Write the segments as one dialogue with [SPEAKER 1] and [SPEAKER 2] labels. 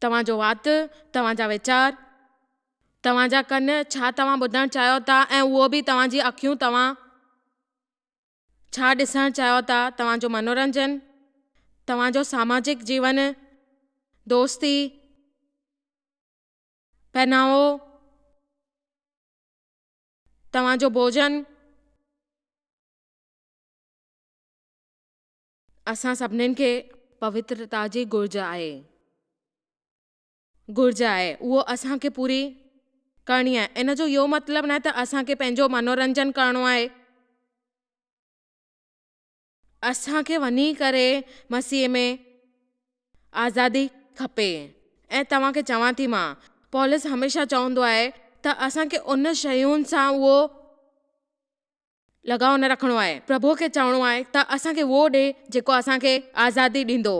[SPEAKER 1] توهان جو وات، توهان جا ويچار، توهان جا ڪن ڇا توهان ٻڌڻ چاهيو ٿا ۽ اهو به توهان جي اکيون توهان ڇا ڏسڻ چاهيو ٿا، توهان جو منورنجن، توهان جو ساماجڪ جيون، دوستي، پهناوو، توهان جو ڀوڄن. اسان سڀنين کي پوترتا جي گهرج آهي. گهرج آهي اهو اسان کي پوري ڪرڻي آهي. ان جو اهو مطلب ناهي ته اسان کي پنهنجو منورنجن ڪرڻو آهي. اسان کي وڃي ڪري مسيح ۾ آزادي کپي ۽ توهان کي چوان ٿي مان پولس هميشه چوندو آهي ته اسان کي ان شين سان اهو لڳاء نه رکڻو آهي، پرڀوء کي چوڻو آهي ته اسان کي اهو ڏي جيڪو اسان کي آزادي ڏيندو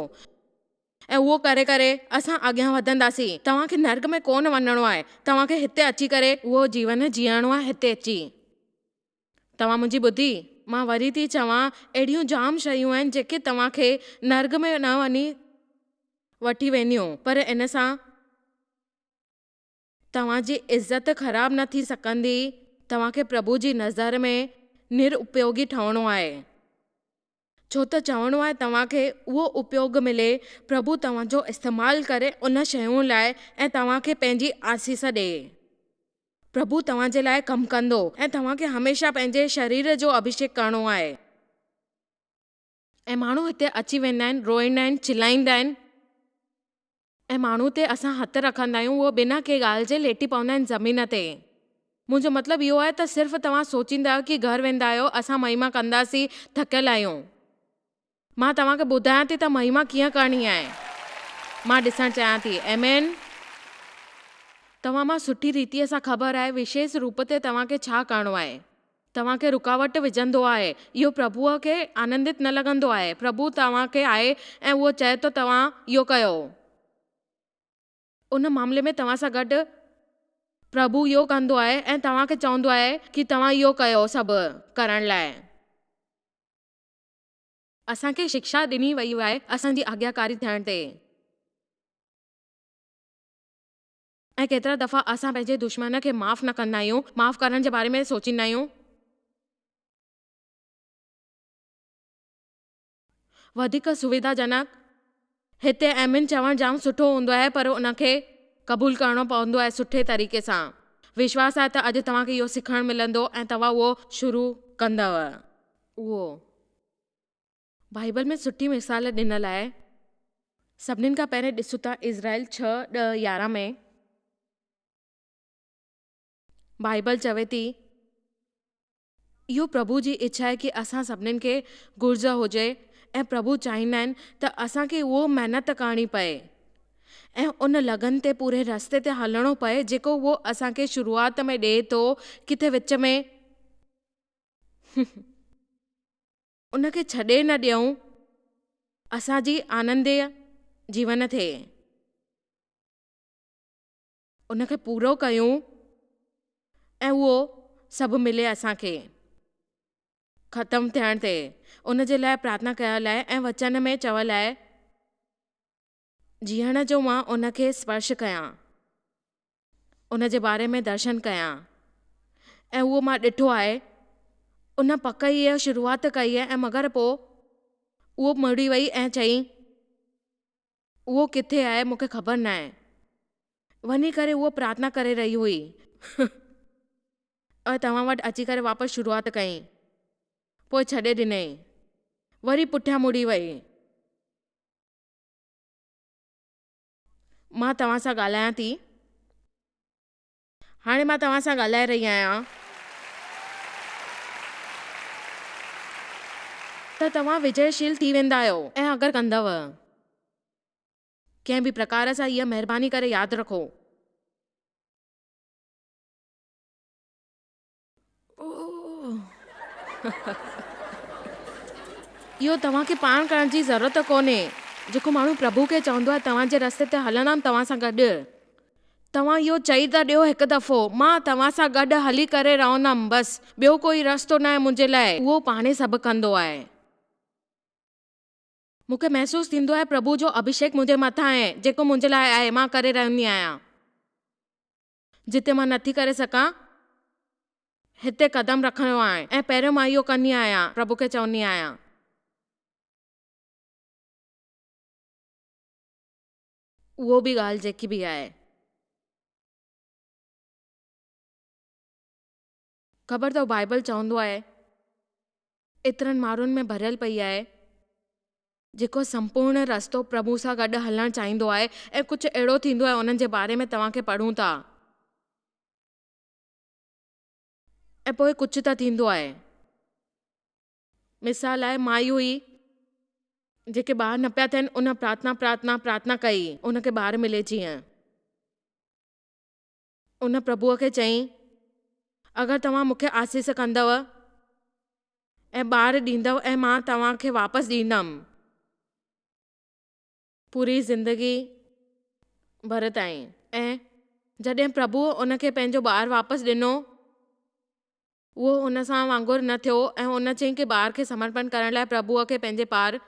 [SPEAKER 1] ۽ اهو ڪري ڪري اسان اڳيان وڌنداسين، توهان کي نرڪ ۾ ڪونه وڃڻو آهي، توهان کي هتي اچي ڪري اهو جيون جيئڻو آهي هتي اچي توهان منهنجي ٻڌي، مان وري ٿي چوان اهڙيون جام شيون آهن جيڪي توهان کي نرڪ ۾ نه وڃي وٺي وينديون پر ان سان. توهان جي عزت خراب نه ٿي سگهندي، توهان کي پرڀو جي نظر ۾ نر اپيوگي ٺهڻو آهي، ڇو ته چوڻو آهي توهان کي اهو اپيوگ ملي، پرڀو توهان جو استعمال ڪري ان شيون لاء ۽ توهان کي پنهنجي آسيس ڏئي. پرڀو توهان جي لاء ڪم ڪندو ۽ توهان کي هميشه پنهنجي شرير جو اڀشيڪ ڪرڻو آهي. ۽ ماڻهو هتي اچي ويندا آهن، روئيندا آهن، چلائيندا آهن ۽ ماڻهو تي اسان هٿ رکندا آهيون اهي بنا ڪنهن ڳالهه جي ليٽي پوندا آهن زمين تي. منهنجو مطلب اهو آهي ته صرف توهان سوچيندا آهيو ڪي گهر ويندا آهيو اسان مهيما ڪنداسين ٿڪيل آهيون مان توهان کي ٻڌايان ٿي ته مهيما ڪيئن ڪرڻي آهي مان ڏسڻ چاهيان ٿي ايمين توهان مان سٺي ريتيء سان خبر آهي وشيس روپ تي توهان کي ڇا ڪرڻو آهي. توهان کي رڪاوٽ وجهندو آهي، اهو پرڀوء کي آنندت نه لڳندو آهي. پرڀو توهان کي آهي ۽ اهو چئي ٿو توهان اهو ڪيو. ان معاملي ۾ توهان سان گڏ پرڀو اهو ڪندو آهي ۽ توهان کي چوندو آهي ڪي توهان اهو ڪيو سڀ ڪرڻ لاء. اسان کي شڪشا ڏني ويئي آهي اسان جي آجياڪاري ٿيڻ تي. ۽ ڪيترا دفعا اسان پنهنجي دشمن کي معاف نه ڪندا آهيون، معاف ڪرڻ جي باري ۾ سوچيندا آهيون. وڌيڪ سويڌا جنڪ. هتي آمين چوڻ جام سٺو هوندو آهي پر ان کي قبول ڪرڻو پوندو آهي سٺي طريقي سان. وشواس آهي ته اڄ توهان کي اهو سکڻ ملندو ۽ توهان اهو شروع ڪندؤ. اهو بائيبل ۾ سٺي مثال ڏنل آهي. سڀني کان پهرين ڏسون ٿا اسرائيل ڇهه، ڏهه، يارهن ۾ بائيبل چوي ٿي اهو پرڀو جي اڇا آهي ڪي اسان سڀني کي گهرج هجي ۽ پرڀو چاهيندا آهن ته اسان کي اهو محنت ڪرڻي پئي ۽ ان لگن تي پوري رستي تي هلڻو پئي جيڪو اهو اسان کي شروعات ۾ ڏئي ٿو ڪٿي وچ ۾ ان کي ڇڏي نه ڏيئون اسان جي آننديه جيون ٿئي ان کي پورو ڪيون ۽ اهو سڀ ملي اسان کي ختم ٿيڻ تي ان جي لاء پرارٿنا ڪيا لاء ۽ وچن ۾ چويا لاء جيئڻ جو مان ان کي اسپرش ڪيان، ان جي باري ۾ درشن ڪيان ۽ اهو مان ڏٺو آهي، ان پڪ ئي اها شروعات ڪئي ۽ مگر پوء اهو مڙي وئي ۽ چيائين، اهو ڪٿي آهي مون کي خبر ناهي. وڃي ڪري هوء پرارٿنا ڪري رهي هئي ۽ توهان وٽ اچي ڪري واپس شروعات ڪيائين، پوء ڇڏي ڏنائين، وري پٺيان مڙي وئي. مان توهان سان ڳالهايان ٿي. هاڻي مان توهان سان ڳالهائي رهي آهيان ته توهان وجئي شيل ٿي ويندا آهيو ۽ اگر ڪندؤ ڪنهن به پرڪار سان اها مهرباني ڪري ياد رکو. اهو توهان کي پاڻ ڪرڻ جي ضرورت ڪونهي، جيڪو ماڻهو پرڀو کي چوندو آهي توهان جي رستي تي هلندم توهان سان گڏ. توهان اهو چئي ته ڏيو هڪ دفعو، مان توهان سان گڏ هلي ڪري رهندم بس، ٻيو ڪو ئي رستو ناهي منهنجي لاء، اهو پاڻ ئي سڀ ڪندو آهي. مون کي محسوس ٿيندو آهي پرڀو جو اڀشيڪ منهنجي مٿان آهي، جيڪو منهنجي لاء آهي، مان ڪري رهندي آهيان. جتي مان نٿي ڪري سگهان، هتي قدم رکڻ جو آهي ۽ پهريون مان اهو ڪندي آهيان، پرڀو کي چوندي آهيان. اهو به ڳالهه جيڪي به آهي. خبر اٿئو بائيبل چوندو آهي ايترن ماڻهن ۾ ڀريل پئي آهي جيڪو سمپورڻ رستو پرڀو سان گڏ هلڻ چاهيندو آهي ۽ ڪجهه اهڙو ٿيندو آهي انهن جي باري ۾ توهان کي پڙهون ٿا ۽ پوء ڪجهه ته ٿيندو آهي مثال لاء مائي هئي جيڪي ٻار نه پيا ٿين ان پرارٿنا پرارٿنا پرارٿنا ڪئي ان کي ٻار ملي جيئن. ان پرڀوء کي چيائين، اگر توهان مون کي آسيس ڪندؤ ۽ ٻار ڏيندؤ ۽ مان توهان کي واپس ڏيندم پوري زندگيء ڀر تائين. ۽ جڏهن پرڀوء ان کي پنهنجو ٻار واپس ڏنو، اهو ان سان وانگر نه ٿيو ۽ ان چيائين ڪي ٻار کي سمرپڻ ڪرڻ لاء پرڀوء کي پنهنجي پار.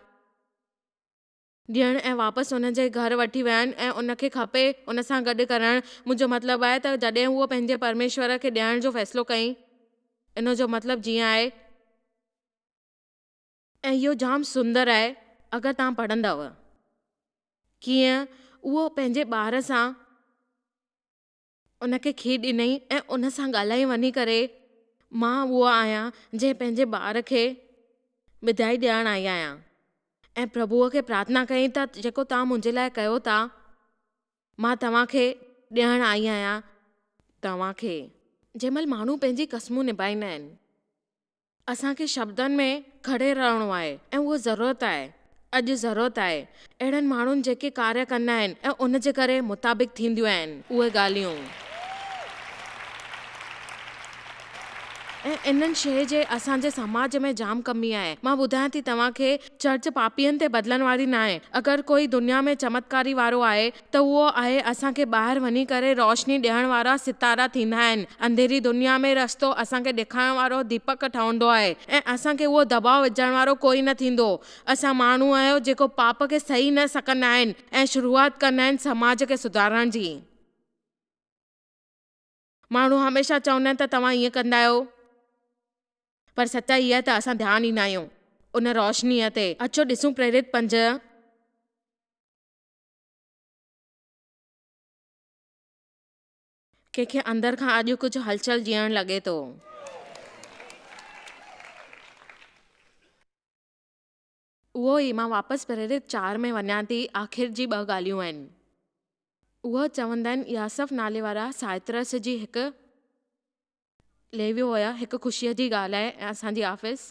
[SPEAKER 1] ڏيڻ ۽ واپس ان جي گهر وٺي ويهڻ ۽ ان کي کپي ان سان گڏ ڪرڻ، مون جو مطلب آهي ته جڏهن هوء پنهنجي پرميشور کي ڏيڻ جو فيصلو ڪيائين، ان جو مطلب جيئن آهي. ۽ اهو جام سندر آهي اگر توهان پڙهندؤ، ڪيئن اهو پنهنجي ٻار سان. ان کي کير ڏنئي ۽ ان سان ڳالهائي وڃي ڪري مان اهو آهيان جنهن پنهنجي ٻار کي ٻڌائي ڏيارڻ آئي آهيان ۽ پرڀوء کي پرارٿنا ڪيائين ته جيڪو توهان منهنجي لاء ڪيو ٿا مان توهان کي ڏيڻ آئي آهيان توهان کي جنهن مهل ماڻهو پنهنجي قسمون نبائيندا آهن. اسان کي شبدن ۾ گهڙي رهڻو آهي ۽ اهو ضرورت آهي، اڄ ضرورت آهي اهڙن ماڻهن جيڪي ڪاريه ڪندا آهن ۽ ان جي ڪري مطابق ٿينديون آهن اهي ڳالهيون ۽ ان شيء جي اسان جي سماج ۾ جام ڪمي آهي مان ٻڌايان ٿي توهان کي چرچ پاپين تي بدلن واري ناهي اگر ڪوئي دنيا ۾ چمتڪاري وارو آهي ته اهو آهي اسان کي ٻاهر وڃي ڪري روشني ڏيڻ وارا ستارا ٿيندا آهن. انڌيري دنيا ۾ رستو اسان کي ڏيکارڻ وارو ديپڪ ٺهندو آهي ۽ اسان کي اهو دٻاء وجهڻ وارو ڪوئي نه ٿيندو. اسان ماڻهو آهيو جيڪو پاپ کي سهي نه سڪندا آهن ۽ شروعات ڪندا آهن سماج کي سڌارڻ جي. ماڻهو هميشه چوندا آهن ته توهان ائين ڪندا آهيو پر سچائي اها آهي ته اسان ڌيان ڏيندا آهيون ان روشنيء تي. اچو ڏسون پريرت پنج. ڪنهن کي اندر کان اڄ ڪجهه هلچل جيئڻ لڳي ٿو. اهو ئي مان واپس پريرت چار ۾ وڃان ٿي آخر جي ٻه ڳالهيون آهن اهو چوندن ياسف نالي وارا سائترس جي هڪ ليويو هيا هڪ خوشيء جي ڳالهه آهي ۽ اسان جي آفيس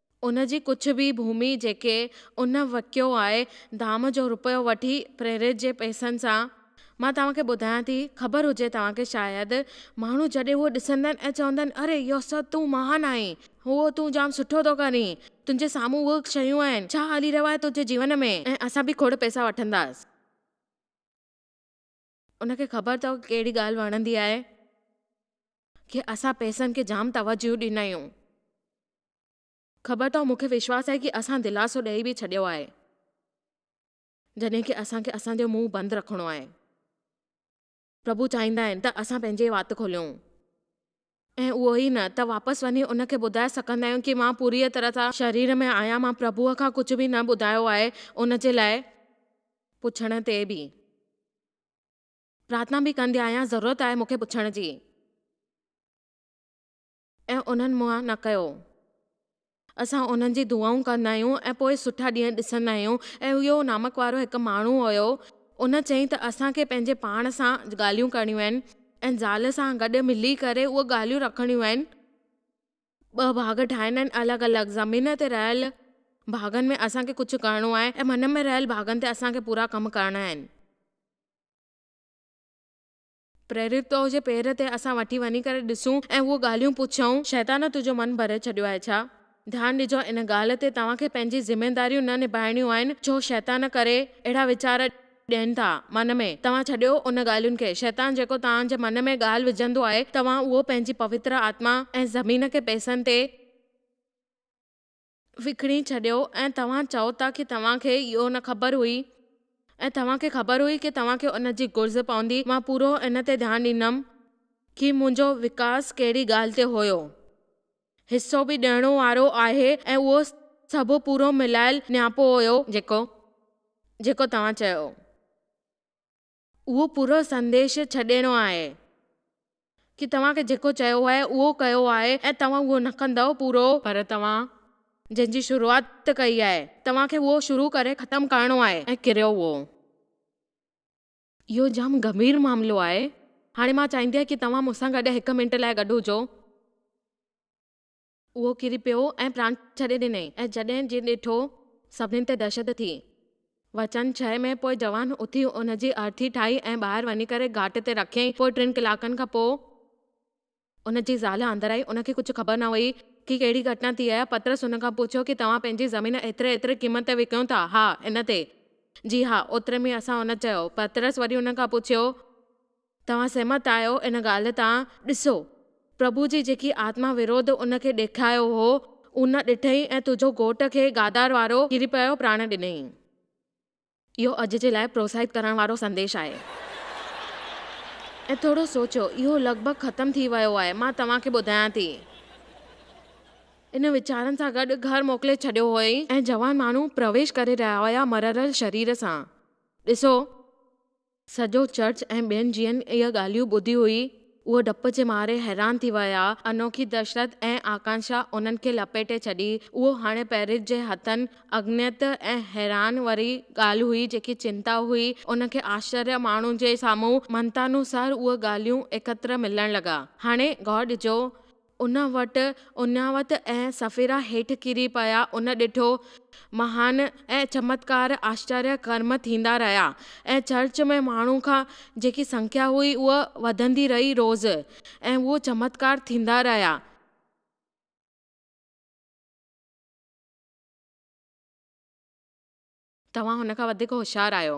[SPEAKER 1] ان جي ڪجهه به ڀومي جيڪي ان وڪيو آهي ڌام جو رپيو وٺي پريريت جي پئسن سان. مان توهان کي ٻڌايان ٿي خبر هجي توهان کي شايد. ماڻهو جڏهن اهو ڏسندن ۽ چوندن اري يوسف تون مهان آهين هو تون جام سٺو ٿو ڪرين تنهنجي سامهون اهي شيون آهن ڇا هلي رهيو آهي تنهنجي جيون ۾ ۽ اسان به کوڙ پئسا وٺنداس. ان کي خبر اٿو ڪهڙي ڳالهه وڻندي آهي ڪي اسان پئسن کي جام توجهه ڏيندا آهيون. خبر اٿو مون کي وشواس آهي ڪي اسان دلاسو ڏئي به ڇڏيو آهي جڏهن ڪي اسان کي اسان جو منهن بند رکڻو آهي. پرڀو چاهيندا آهن ته اسان پنهنجي وات کوليون. ۽ اهو ئي نه ته واپس وڃي ان کي ٻڌائي سگهندا آهيون ڪي مان پوريء طرح سان شرير ۾ آهيان، مان پرڀوء کان ڪجهه به نه ٻڌايو آهي، ان جي لاء پڇڻ تي به. پرارٿنا به ڪندي آهيان، ضرورت آهي مون کي پڇڻ جي. ۽ انهن مون مان نه ڪيو. اسان انهن جي دعائون ڪندا آهيون ۽ پوء سٺا ڏينهن ڏسندا آهيون ۽ اهو نامڪ وارو هڪ ماڻهو هيو. ان چيائين ته اسان کي پنهنجي پاڻ سان ڳالهيون ڪرڻيون آهن ۽ زال سان گڏ ملي ڪري اهي ڳالهيون رکڻيون آهن. ٻه ڀاڳ ٺاهڻا آهن الڳ الڳ زمين تي رهيل ڀاڳن ۾ اسان کي ڪجهه ڪرڻو آهي ۽ من ۾ رهيل ڀاڳن تي اسان کي پورا ڪم ڪرڻا آهن. پريريت تو جي پير تي اسان وٺي وڃي ڪري ڏسون ۽ اهو ڳالهيون پڇون. شيطان تنهنجو من ڀري ڇڏيو آهي ڇا؟ ڌيان ڏجو ان ڳالهه تي توهان کي پنهنجي ذميداريون نه نڀائڻيون آهن ڇو شيطان ڪري اهڙا ويچار ڏين ٿا من ۾ توهان ڇڏيو ان ڳالهين کي شيطان جيڪو توهان جي من ۾ ڳالهه وجهندو آهي توهان اهو پنهنجي پوتر آتما ۽ زمين کي پيسن تي وڪڻي ڇڏيو ۽ توهان چئو ٿا ڪي توهان کي اهو نه خبر هئي ۽ توهان کي خبر هئي ڪي توهان کي ان جي گهرج پوندي مان پورو ان تي ڌيان ڏيندم ڪي منهنجو وڪاس ڪهڙي ڳالهه تي هيو حصو به ڏيڻو وارو آهي ۽ اهو سڀ پورو ملايل نياپو هيو جيڪو جيڪو توهان چيو. اهو پورو سنديش ڇڏيڻو آهي ڪي توهان کي جيڪو چيو آهي اهو ڪيو آهي ۽ توهان اهو نه ڪندؤ پورو. پر توهان جنهن جي شروعات ڪئي آهي توهان کي اهو شروع ڪري ختم ڪرڻو آهي ۽ ڪريو اهو. اهو جام گنڀير معاملو آهي هاڻي مان چاهيندي ڪي توهان مون سان گڏ هڪ منٽ لاء گڏ هجو. اهو ڪري پيو ۽ پراڻ ڇڏي ڏنئي ۽ جڏهن جي ڏٺو سڀني تي دهشت ٿي. وچن ڇهه ۾ پوء جوان اٿي ان جي ارٿي ٺاهي ۽ ٻاهر وڃي ڪري گهاٽ تي رکيائين پوء ٽن ڪلاڪن کان پوء ان جي زال اندر آئي ان کي ڪجهه خبر نه هئي ڪي ڪهڙي گهٽنا ٿي آهي پطرس ان کان پڇيو ڪي توهان پنهنجي زمين ايتري ايتري قيمت تي وڪيون ٿا ها ان تي جي ها اوتري ۾ اسان ان چيو پطرس وري ان کان پڇيو. توهان سهمت آهيو ان ڳالهه تان؟ ڏسو، پرڀو جي جيڪي آتما وروڌ ان کي ڏيکايو هو، ان ڏٺئي ۽ تنهنجو گهوٽ کي گادار وارو ڪري پيو پراڻ ڏنئين. اهو اڄ جي لاء پروتساهت ڪرڻ وارو سنديش آهي. ۽ ٿورو سوچيو، اهو لڳ ڀڳ ختم ٿي ويو آهي. مان توهان کي ٻڌايان ٿي. ان ويچارن سان گڏ گهر موڪلي ڇڏيو هئائين ۽ جوان ماڻهو پرويش ڪري رهيا هيا مررل شرير سان. ڏسو! سڄو چرچ ۽ ٻين جن اهي ڳالهيون ٻڌيون هئي، اهي ڊپ جي ماري حيران ٿي ويا. انوکي دهشت ۽ آڪانشا انهن کي لپيٽي ڇڏي. اهو هاڻي پئرس جي هٿن اگنيت ۽ حيران واري ڳالهه هئي، جيڪي چنتا هئي، ان کي آشچريه ماڻهن جي سامهون مهنتانوسار اهي ڳالهيون ايڪتر ملڻ لڳا. هاڻي غور ڏجو. ان وٽ اڃاوت ۽ سڦيرا هيٺ ڪري پيا، ان ڏٺو مهان ۽ چمتڪار آشچريه ڪرم ٿيندا رهيا ۽ چرچ ۾ ماڻهن کان جيڪي سنکيا هئي اهو وڌندي رهي روز ۽ اهو چمتڪار ٿيندا رهيا. توهان هن کان وڌيڪ هوشيار آهيو.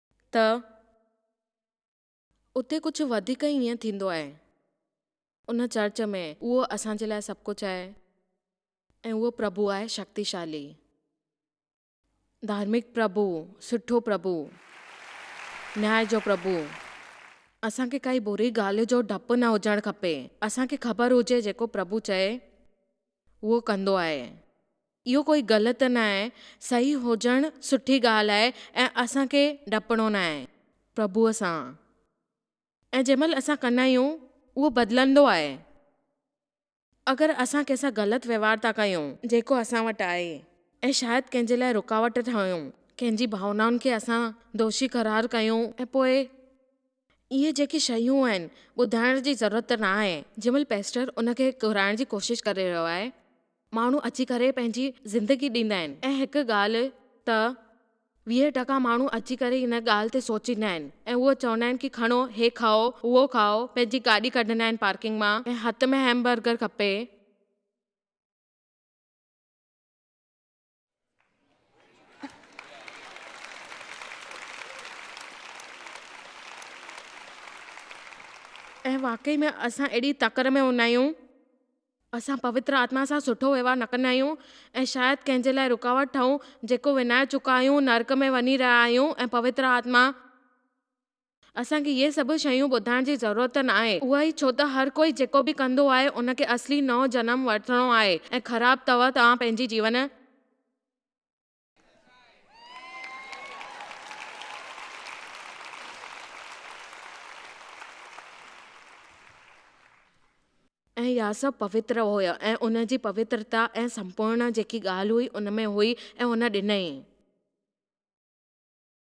[SPEAKER 1] ته اتي ڪجهه وڌيڪ ئي ائين ٿيندو آهي. ان چرچ ۾ اهو اسان جي لاء سڀ ڪجهه آهي ۽ اهو پرڀو آهي شڪتيشالي، ڌارمڪ پرڀو، سٺو پرڀو، نياء جو پرڀو. اسان کي ڪائي بري ڳالهه جو ڊپ نه هجڻ کپي. اسان کي خبر هجي جيڪو پرڀو چئي اهو ڪندو آهي. اهو ڪوئي غلط ناهي، صحيح هجڻ سٺي ڳالهه آهي ۽ اسان کي ڊپڻو ناهي پرڀوء سان ۽ جنهن مهل اسان ڪندا آهيون اهو بدلندو آهي. اگر اسان ڪنهن سان غلط وهنوار ٿا ڪيون، جيڪو اسان وٽ آهي ۽ شايد ڪنهن جي لاء رڪاوٽ ٺاهيون، ڪنهن جي ڀاونائن کي اسان دوشي قرار ڪيون ۽ پوء. اهي جيڪي شيون آهن، ٻڌائڻ جي ضرورت نه آهي. جنهن مهل پيسٽر ان کي گهرائڻ جي ڪوشش ڪري رهيو آهي، ماڻهو اچي ڪري پنهنجي زندگي ڏيندا آهن ۽ هڪ ڳالهه ته ويهه ٽڪا ماڻهو اچي ڪري ان ڳالهه تي سوچيندا آهن ۽ اهو چوندا آهن ڪي کڻو هي کائو اهو کائو پنهنجي گاڏي ڪڍندا آهن پارڪنگ مان ۽ هٿ ۾ هيمبرگر کپي ۽ واقعي ۾ اسان اهڙي تڪڙ ۾ هوندا آهيون. اسان پوتر آتما سان سٺو وهنوار نه ڪندا آهيون ۽ شايد ڪنهن جي لاء رڪاوٽ ٺهون، جيڪو وڃائي چڪا آهيون، نرڪ ۾ وڃي رهيا آهيون ۽ پوتر آتما. اسان کي اهي سڀ شيون ٻڌائڻ جي ضرورت ناهي، اهو ئي ڇو ته هر ڪوئي جيڪو به ڪندو آهي ان کي اصلي نئون جنم ورتڻو آهي ۽ خراب توهه توهان پنهنجي جيون. ۽ اها سڀ پوتر هئي ۽ ان جي پوترتا ۽ سمپورڻ جيڪي ڳالهه هئي ان ۾ هئي ۽ هن ڏنئي.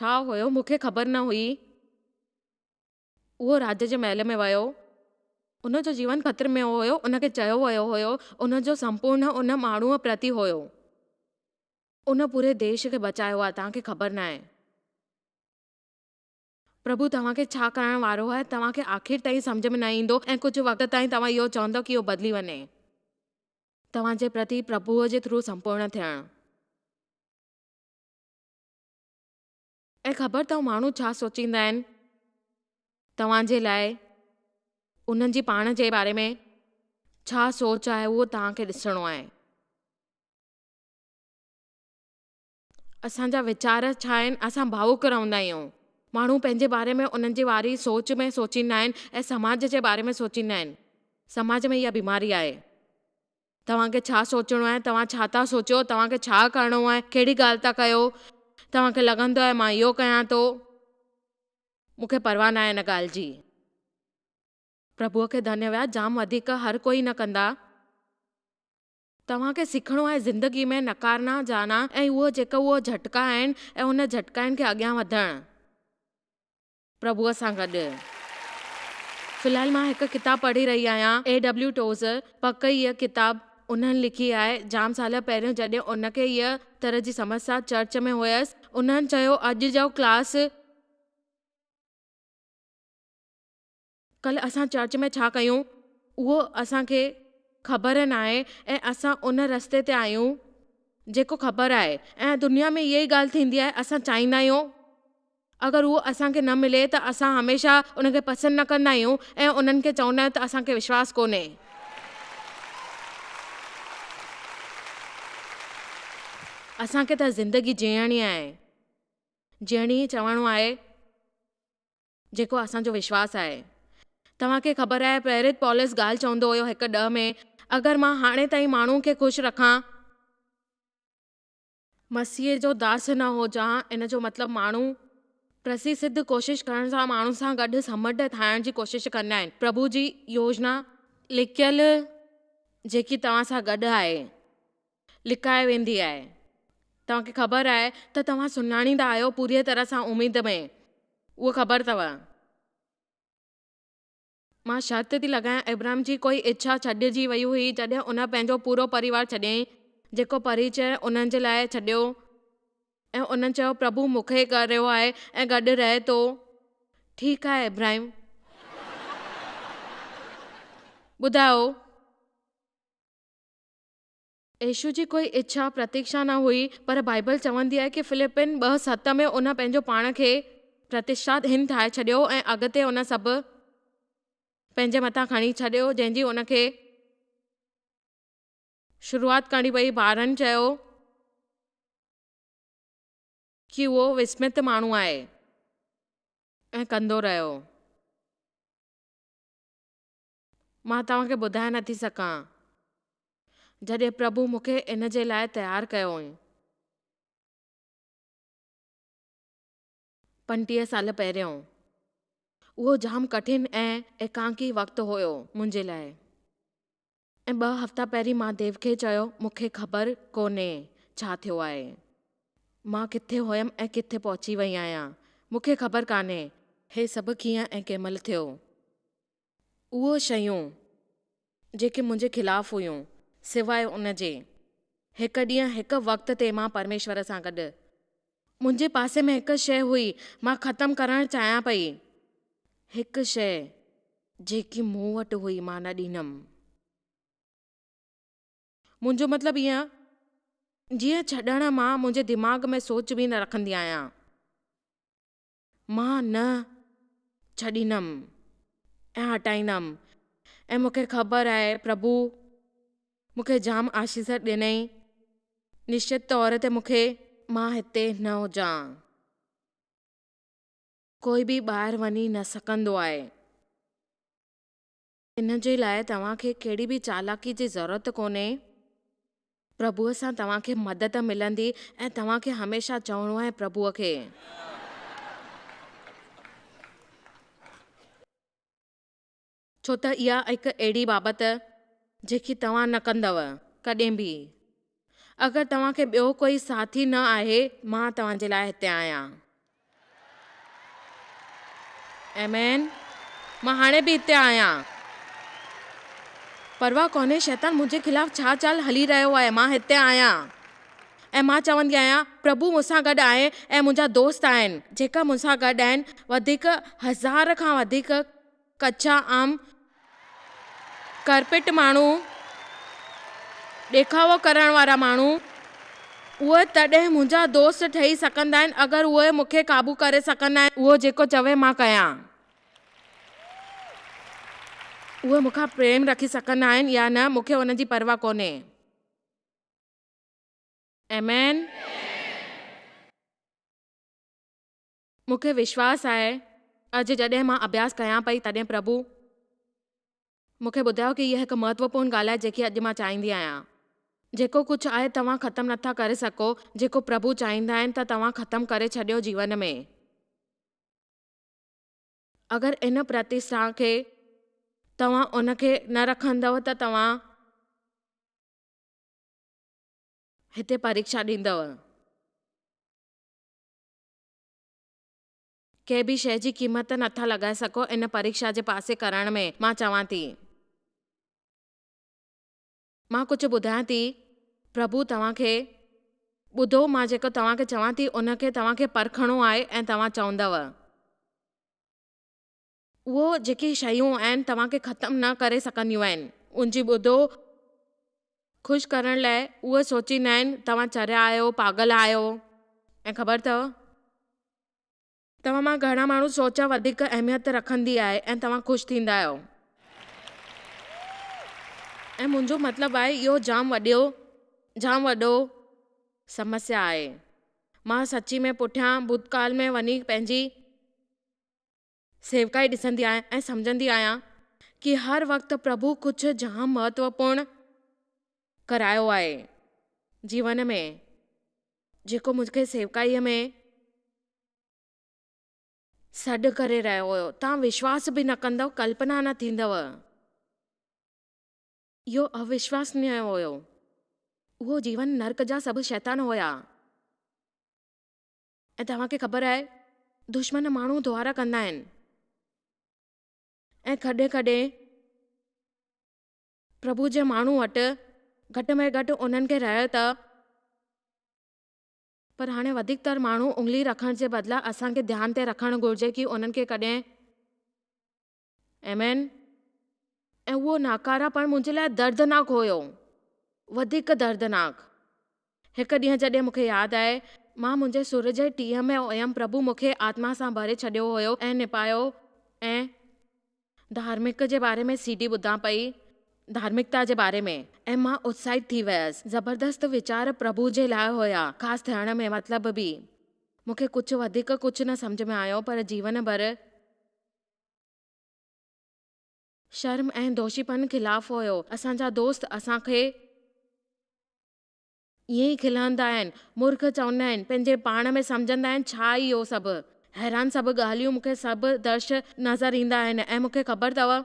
[SPEAKER 1] ڇا هيو مون کي خبر نه هئي. اهو راڄ جي محل ۾ ويو. ان جو جيون خطري ۾ هيو. ان کي چيو ويو هيو ان جو سمپورڻ ان ماڻهوء پرتي هيو. ان پوري ديش کي بچايو آهي توهان کي خبر ناهي. پرڀو توهان کي ڇا ڪرڻ وارو آهي توهان کي آخر تائين سمجهه ۾ نه ايندو ۽ ڪجهه وقت تائين توهان اهو چوندؤ ڪي اهو بدلي وڃي توهان جي پرتي پرڀوء جي ٿرو سمپورڻ ٿيڻ. ۽ خبر اٿئو ماڻهو ڇا سوچيندا آهن توهان جي لاء انهن جي پاڻ جي باري ۾ ڇا سوچ آهي اهو توهان کي ڏسڻو آهي اسان جا ويچار ڇا آهن اسان ڀاوڪ رهندا آهيون ماڻهو پنهنجي باري ۾ انهن جي واري سوچ ۾ سوچيندا آهن ۽ سماج جي باري ۾ سوچيندا آهن سماج ۾ اها بيماري آهي توهان کي ڇا سوچڻو آهي؟ توهان ڇا ٿا سوچيو؟ توهان کي ڇا ڪرڻو آهي؟ ڪهڙي ڳالهه ٿا ڪيو؟ توهان کي لڳندو آهي مان اهو ڪيان ٿو؟ مون کي پرواهه ناهي ان ڳالهه جي. پرڀوء کي ڌنيواد جام وڌيڪ هر ڪوئي نه ڪندا. توهان کي سکڻو آهي زندگي ۾ نڪارنا جانا ۽ اهو جيڪا اهو جهٽڪا آهن ۽ ان جهٽڪائن کي اڳيان وڌڻ. پرڀوء سان گڏ في الحال مان هڪ ڪتاب پڙهي رهي آهيان اي ڊبليو ٽوز پڪ هيء ڪتاب انهن لکي آهي جام سال پهريون جڏهن ان کي هيء طرح جي سمسيا چرچ ۾ هيس انهن چيو اڄ جو ڪلاس ڪلهه اسان چرچ ۾ ڇا ڪيون، اهو اسان کي خبر ناهي ۽ اسان ان رستي تي آهيون، جيڪو خبر آهي ۽ دنيا ۾ اهائي ڳالهه ٿيندي آهي، اسان چاهيندا آهيون، اگر اهو اسان کي نه ملي ته اسان هميشه ان کي پسند نه ڪندا آهيون ۽ انهن کي چوندا آهيون ته اسان کي وشواس ڪونهي. اسان کي ته زندگي جيئڻي آهي، جيئڻي چوڻو آهي. جيڪو اسان جو وشواس آهي. توهان کي خبر آهي پريرت پولس ڳالهه چوندو هيو هڪ ڏهه ۾ اگر مان هاڻي تائين ماڻهن کي خوش رکان ۽. مسيح جو داس نه هجان ان جو مطلب ماڻهو. پرسي سڌ ڪوشش ڪرڻ سان ماڻهن سان گڏ سمنڊ ٺاهڻ جي ڪوشش ڪندا آهن پرڀو جي يوجنا. لڪيل جيڪي توهان سان گڏ آهي. لڪائي ويندي آهي. توهان کي خبر آهي ته توهان سڃاڻيندا آهيو پوريء طرح سان اميد ۾. اهو خبر اٿو. مان شرط ٿي لڳايان ابراهيم جي ڪوئي اڇا ڇڏجي وئي هئي جڏهن ان پنهنجو پورو پريوار ڇڏيائين جيڪو پريچئه انهن جي لاء ڇڏيو ۽ انهن چيو پرڀو مون کي ڪريو آهي ۽ گڏ رهي ٿو ٺيڪ آهي ابراهيم ٻڌايو. يسوع جي ڪوئي اڇا، پرتيڪشا، نه هئي، پر بائيبل چوندي آهي ڪي فلپين ٻه ست ۾ ان پنهنجو پاڻ کي پرتشتاد هين ٺاهي ڇڏيو ۽ اڳتي ان سڀ پنهنجي مٿان کڻي ڇڏيو جنهن جي ان کي شروعات ڪرڻي پئي ٻارن چيو ڪي اهو وسمت ماڻهو آهي ۽ ڪندو رهيو. مان توهان کي ٻڌائي نٿي سگهان جڏهن پرڀو مون کي ان جي لاء تيار ڪيو هئائين. پنجٽيهه سال پهريون اهو جام ڪٺن ۽ ايڪانڪي وقت هيو منهنجي لاء ۽ ٻه هفتا پهرين مان ديو کي چيو مون کي خبر ڪونهي ڇا ٿيو آهي مان ڪٿي هيم ۽ ڪٿي پهچي وئي آهيان مون کي خبر ڪانهي هي سڀ ڪيئن ۽ ڪنهن مهل ٿيو. اهي شيون جيڪي منهنجي خلاف هيون، سواء ان جي، هڪ ڏينهن هڪ وقت تي مان پرميشور سان گڏ، منهنجي پاسي ۾ هڪ شيء هئي، مان ختم ڪرڻ چاهيان پئي، هڪ شيء جيڪي مون وٽ هئي مان نه ڏنم. منهنجو مطلب ائين جيئن ڇڏڻ مان منهنجي دماغ ۾ سوچ به نه رکندي آهيان. مان نه ڇڏيندم ۽ هٽائيندم ۽ مون کي خبر آهي پرڀو مون کي جام آشيس ڏنئي نشچت طور تي مون کي مان هتي نه هجان ڪوئي به ٻاهر وڃي نه سگهندو آهي ان جي لاء توهان کي ڪهڙي به چالاڪي جي ضرورت ڪونهي. پرڀوء سان توهان کي مدد ملندي ۽ توهان کي هميشه چوڻو آهي پرڀوء کي. ڇو ته اها هڪ اهڙي بابت جيڪي توهان نه ڪندؤ ڪڏهن به. اگر توهان کي ٻيو ڪوئي ساٿي نه آهي مان توهان جي لاء هتي آهيان. آمين مان هاڻي به هتي آهيان. پرواهه ڪونهي شيطان منهنجي خلاف ڇا چال هلي رهيو آهي مان هتي آهيان ۽ مان چوندي آهيان پرڀو مون سان گڏ آهي ۽ منهنجا دوست آهن جيڪا مون سان گڏ آهن وڌيڪ هزار کان وڌيڪ ڪچا عام ڪارپيٽ ماڻهو، ڏيکاوو ڪرڻ وارا ماڻهو، اهي تڏهن منهنجا دوست ٺهي سگهندا آهن، اگر اهي مون کي قابو ڪري سگهن ۽ اهو جيڪو چوي مان ڪيان، اهي مون کان پريم رکي سگهن آهن يا نه، مون کي ان جي پرواهه ڪونهي. آمين. مون کي وشواس آهي اڄ جڏهن مان اڀياس ڪيان پئي تڏهن پرڀو مون کي ٻڌايو ڪي هيء هڪ مهتوپورن ڳالهه آهي جيڪي اڄ مان چاهيندي آهيان. جيڪو ڪجهه آهي توهان ختم نٿا ڪري سگهو جيڪو پرڀو چاهيندا آهن ته توهان ختم ڪري ڇڏيو جيون ۾ اگر ان پرتستاهه کي توهان ان کي نه رکندؤ ته توهان هتي پريڪشا ڏيندؤ. ڪنهن به شيء جي قيمت نه ٿا لڳائي سگهو ان پريڪشا جي پاسي ڪرڻ ۾. مان چوان ٿي. مان ڪجهه ٻڌايان ٿي. پرڀو توهان کي. ٻڌو مان جيڪو توهان کي چوان ٿي ان کي توهان کي پرکڻو آهي ۽ توهان چوندؤ. اهي جيڪي شيون آهن توهان کي ختم نه ڪري سگهنديون آهن ان جي ٻڌو خوش ڪرڻ لاء اهي سوچيندا آهن توهان چريا آهيو پاڳل آهيو ۽ خبر اٿئو توهان مان گهڻا ماڻهو سوچ وڌيڪ اهميت رکندي آهي ۽ توهان خوش ٿيندا آهيو ۽ منهنجو مطلب آهي اهو جام وڏيو جام وڏو سمسيا آهي مان سچي ۾ پٺيان ڀوتڪال ۾ وڃي پنهنجي. سيوڪائي ڏسندي آهيان ۽ سمجهندي آهيان ڪي هر وقت پرڀو ڪجهه جام مهتوپورن ڪرايو آهي جيون ۾ جيڪو مون کي سيوڪائي ۾ سڏ ڪري رهيو هو توهان وشواس به نه ڪندو ڪلپنا نه ٿيندو اهو اوشواسنيه هو اهو جيون نرڪ جا سڀ شيطان هيا ۽ توهان کي خبر آهي دشمن ماڻهو ڌوئارا ڪندا آهن ۽ ڪڏهن ڪڏهن پرڀو جي ماڻهو وٽ گهٽ ۾ گهٽ انهن کي رهيو ته پر هاڻي وڌيڪ تر ماڻهو انگلي رکڻ جي بدلا اسان کي ڌيان تي رکڻ گهرجي ڪي انهن کي ڪڏهن ايم اين، ۽ اهو ناڪاراپڻ منهنجي لاء دردناڪ هيو، وڌيڪ دردناڪ. هڪ ڏينهن جڏهن مون کي ياد آئي، مان منهنجي سر جي ٽيهه ۾ هيم، پرڀو مون کي آتما سان ڀري ڇڏيو هيو ۽ نپايو ۽ ڌارمڪ جي باري ۾ سي ڊي ٻڌان پئي، ڌارمڪتا جي باري ۾، ۽ مان اتساهت ٿي ويس. زبردست ويچار پرڀو جي لاء هيا، خاص ٿيڻ ۾ مطلب به. مون کي ڪجهه وڌيڪ ڪجهه نه سمجهه ۾ آيو پر جيون ڀر. شرم ۽ دوشيپن خلاف هيو. اسان جا دوست اسان کي ائين ئي کلهندا آهن، مورک چوندا آهن، پنهنجي پاڻ ۾ سمجهندا آهن ڇا اهو سڀ؟ حيران سڀ ڳالهيون مون کي سڀ درش نظر ايندا آهن ۽ مون کي خبر اٿو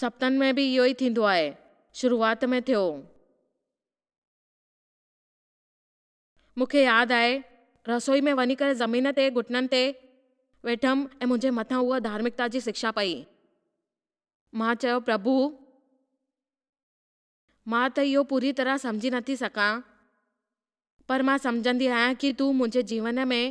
[SPEAKER 1] سپنن ۾ به اهو ئي ٿيندو آهي. شروعات ۾ ٿيو. مون کي ياد آهي، رسوئي ۾ وڃي ڪري زمين تي گهٽنن تي ويٺم ۽ منهنجي مٿان اها ڌارمڪتا جي سکشا پئي. مان چيو، پرڀو! مان ته اهو پوريء طرح سمجهي نه ٿي سگهان، پر مان سمجهندي آهيان ڪي تون منهنجي جيون ۾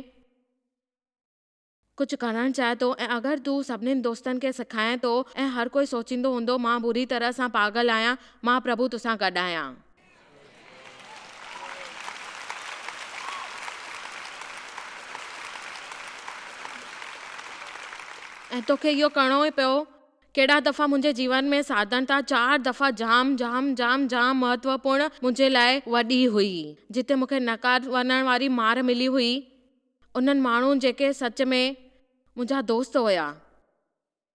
[SPEAKER 1] ڪجهه ڪرڻ چاهي ٿو ۽ اگر تون سڀني دوستن کي سکائين ٿو ۽ هر ڪوئي سوچيندو هوندو مان بري طرح سان پاڳل آهيان، مان پرڀو توسان گڏ آهيان. ۽ توکي اهو ڪرڻو ئي پيو. ڪيڏا دفعا منهنجي جيون ۾ ساڌڻتا چار دفعا جام جام جام جام مهتوپورن منهنجي لاء وڏي هئي جتي مونکي نڪار وڃڻ واري مار ملي هئي، انهن ماڻهن جيڪي سچ ۾ منهنجا دوست هيا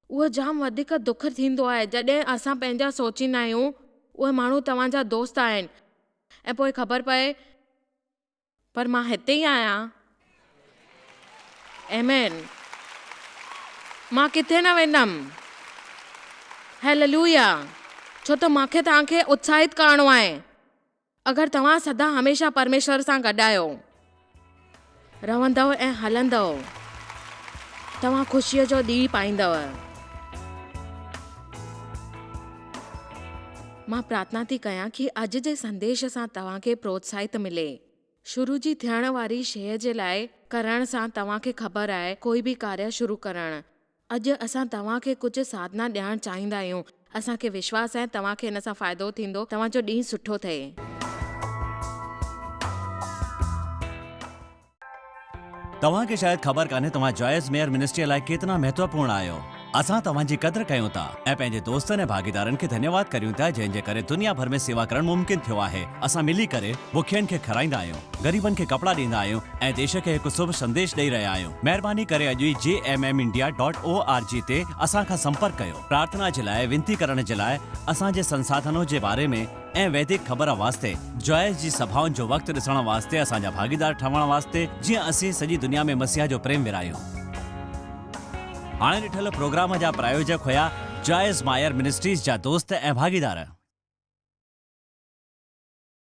[SPEAKER 1] اهو جام وڌيڪ دک ٿيندو آهي جڏهن اسان پنهنجا سوچيندا آهيون اهي ماڻهو توهان جا دوست آهن ۽ پوء خبر پئي پر مان هتي ئي آهيان ايمين مان ڪٿي نه ويندم هيللويا ڇو ته مونکي توهان کي اتساهت ڪرڻو آهي. اگر توهان سدا هميشه پرميشور سان گڏ آهيو، رهندؤ ۽ هلندؤ، توهان خوشيء جو ڏينهن پائيندؤ. مان پرارٿنا ٿي ڪيان ڪي اڄ جي سنديش سان توهان کي پروتساهت ملي. شروع جي ٿيڻ واري شيء جي لاء ڪرڻ سان توهان کي خبر آهي ڪوئي به ڪاريه شروع ڪرڻ، اڄ اسان توهان کي ڪجهه ساڌنا ڏيارڻ چاهيندا آهيون. اسان کي وشواس آهي توهان کي ان سان فائدو ٿيندو. توهان جو ڏينهن سٺو ٿئي.
[SPEAKER 2] توهان کي شايد خبر ڪانهي توهان جائز ميئر منسٽريء لاء ڪيترا مهتوپورڻ آهيو. اسان توهان جي قدر ڪيون ٿا ۽ پنهنجي دوستن ۽ ڀاڳيدارن کي ڌنيواد ڪريون ٿا جنهن جي ڪري دنيا ڀر ۾ سيوا ڪرڻ ممڪن ٿيو آهي. اسان ملي ڪري بکين کي کارائيندا آهيون، غريبن کي ڪپڙا ڏيندا آهيون ۽ ديش کي هڪ سڀ سنديش ڏئي رهيا آهيون. مهرباني ڪري اڄ ئي G M M India dot O R G تي اسان کان سمپرڪ ڪيو پرارٿنا جي لاء وينتي ڪرڻ جي لاء اسان جي سنساڌنو جي باري ۾ ۽ ويدڪ خبر واسطي جوائس جي سڀائن جو وقت ڏسڻ واسطي اسان جا ڀاڳيدار ٺهڻ واسطي جيئن اسين سڄي دنيا ۾ مسيح جو پريم ورهايون. هاڻي ڏٺل پروگرام جا پرايوجڪ هيا جوائس مائر منسٽريز جا دوست ۽ ڀاڳيدار.